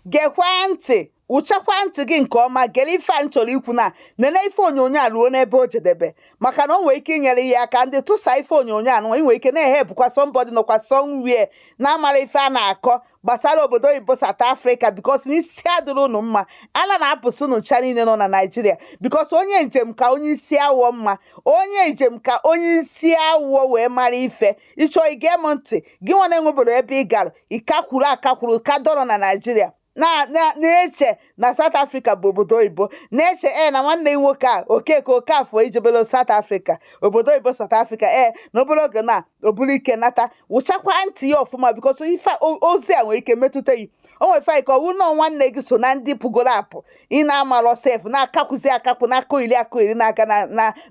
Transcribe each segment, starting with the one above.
gekwa ntị wụchakwa ntị gị nke ọma gere ife a m chọrọ ikwu na nene ife onyonyo a ruo n'ebe o jedebe maka na o nwere ike inyere gị aka ndị tụsa ife onyonyo a nwa nwere ike na-ehelpụkwa somebody nọkwa somewhere na-amara ife a na-akọ gbasara obodo oyibo South Africa because na isi adịrị unu mma ala na-apụsị unu ncha niile nọ na Naịjirịa because onye njem ka onye isi awọ mma onye njem ka onye isi awọ wee mara ife ị chọọ ige m ntị gị nwa na-enwebere ebe ị gara ị kakwuru akakwuru ka dọrọ na Naịjirịa na-eche na South Africa bụ obodo oyibo na-eche ee na nwanne gị nwoke a Okeke Okafọ ijebelo South Africa obodo oyibo South Africa ee na obere oge na o buru ike nata wụchakwa ntị ya ọfụma because ife ozi a nwere ike metụta yi o nwere ike ọ wụ na nwanne gị so na ndị pụgoro apụ ị na-amalọ sef na-akakwụzi akakwu na-akọyeri akọyeri na-aga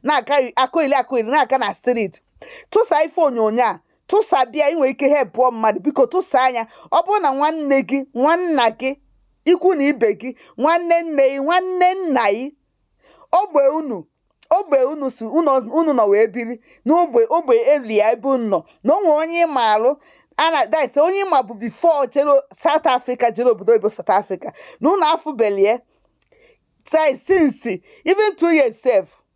na-aga akọyeri akọyeri na-aga na street tụsa ife onyonyo a tụsaba ya ị nwere ike helpụọ mmadụ biko tụsaa ya ọ bụrụ na nwanne gị nwanna gị ikwu na ibe gị nwanne nne gị nwanne nna gị ogbe unu ogbe unu si unu nọ wee biri n'ogbe ogbe elu ya ebe unu nọ na o nwere onye ị maalụ ana dise onye ị mabu before jere South Africa jere obodo oyibo South Africa na unu afụbelie since even two years sef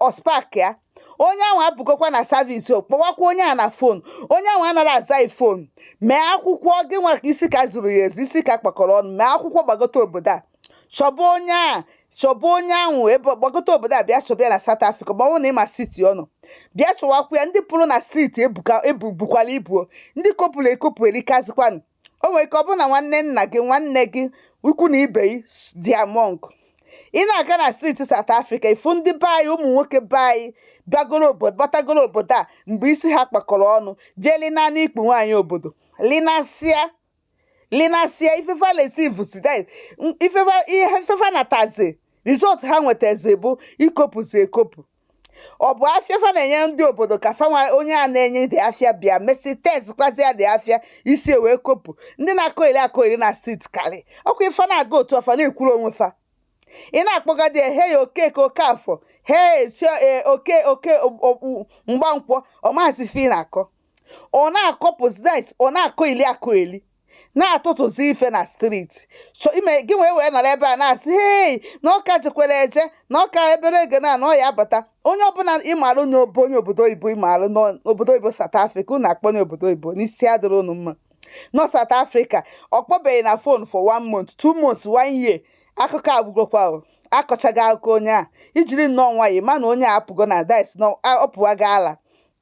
ọ spark ya onye ahụ apụgokwa na service kpọwakwa onye a na phone onye ahụ anaghị aza phone mee akwụkwọ gị nwa ka isi ka zuru ya ezu isi ka kpakọrọ ọnụ mee akwụkwọ gbagote obodo a chọba onye a chọba onye ahụ ebe gbagote obodo a bịa chọba ya na South Africa ma ọ na ị ma city ọ nọ bịa chọwakwa ya ndị pụrụ na street ebukwala ibu ndị kopụrụ ekopụ erikazikwanụ o nwere ike ọ bụrụ na nwanne nna gị nwanne gị ikwu na ibe gị dị among ị na-aga na street South Africa ị fụ ndị be anyị ụmụ nwoke be anyị bịagoro obodo batagoro obodo a mgbe isi ha kpakọrọ ọnụ jee lina n'ikpu nwaanyị obodo linasịa linasịa ife fa lesiv sida ife fa ihe ife fa natazi result ha nwetazi bụ ikopụzi ekopụ ọ bụ afịa fa na-enye ndị obodo ka fa nwa onye a na-enye the afịa bịa mesịa testịkwazịa the afịa isi wee kopụ ndị na-akọyeri akọyeri na street karị ọkwa ife na-aga otu ọfa na-ekwuru onwe fa ị na-akpọgadi ya hey Okeke Okafọ hey Okeke Mgbankwọ ọ mazi ife ị na-akọ ọ na-akọpụzi dice ọ na-akọyeli akọyeli na-atụtụzi ife na street gị wee wee nọrọ ebe a na-asị hei na ọ ka jekwara eje na ọ ka jebere eje na ọ ya abata onye ọ bụla ị marụ onye obo onye obodo oyibo ị marụ n'obodo oyibo South Africa unu akpọ onye obodo oyibo na isi adịrị unu mma nọ South Africa ọ kpọbeghị na phone for one month two months one year akụkọ agwụgokwa akọchaghị akụkọ onye a i jiri nnọọ nwayọ ma na onye a apụgo na dice na ọ pụwago ala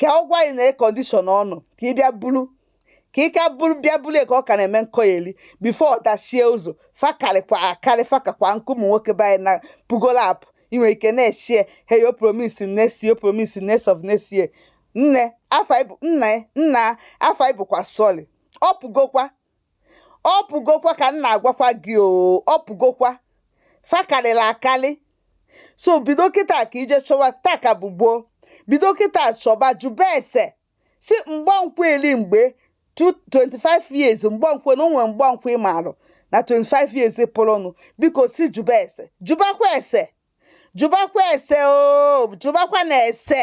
ka ọ gwa anyị na condition ọ nọ ka ị bịa buru ka ị ka buru bịa buru ka ọ ka na-eme nkọyeli before ọ dachie ụzọ fa karịkwa akarị fa kakwa nkụ ụmụ nwoke be anyị na pụgolu apụ ị nwere ike na-echie he yo promise next year promise next of next year nne afọ anyị bụ nna ya nna afọ anyị bụkwa sorry ọ pụgokwa ọ pụgokwa ka m na-agwakwa gị oo ọ pụgokwa fa karịla akarị so bido kịta ka i je chọba taa ka bụ gboo bido kịta chọba jụba ese si mgbankwe eli mgbe 25 years mgbankwe na onwe mgbankwe ị marụ na 25 years pụrụnụ biko si jụba ese jụbakwa ese jụbakwa ese oo jụbakwa na ese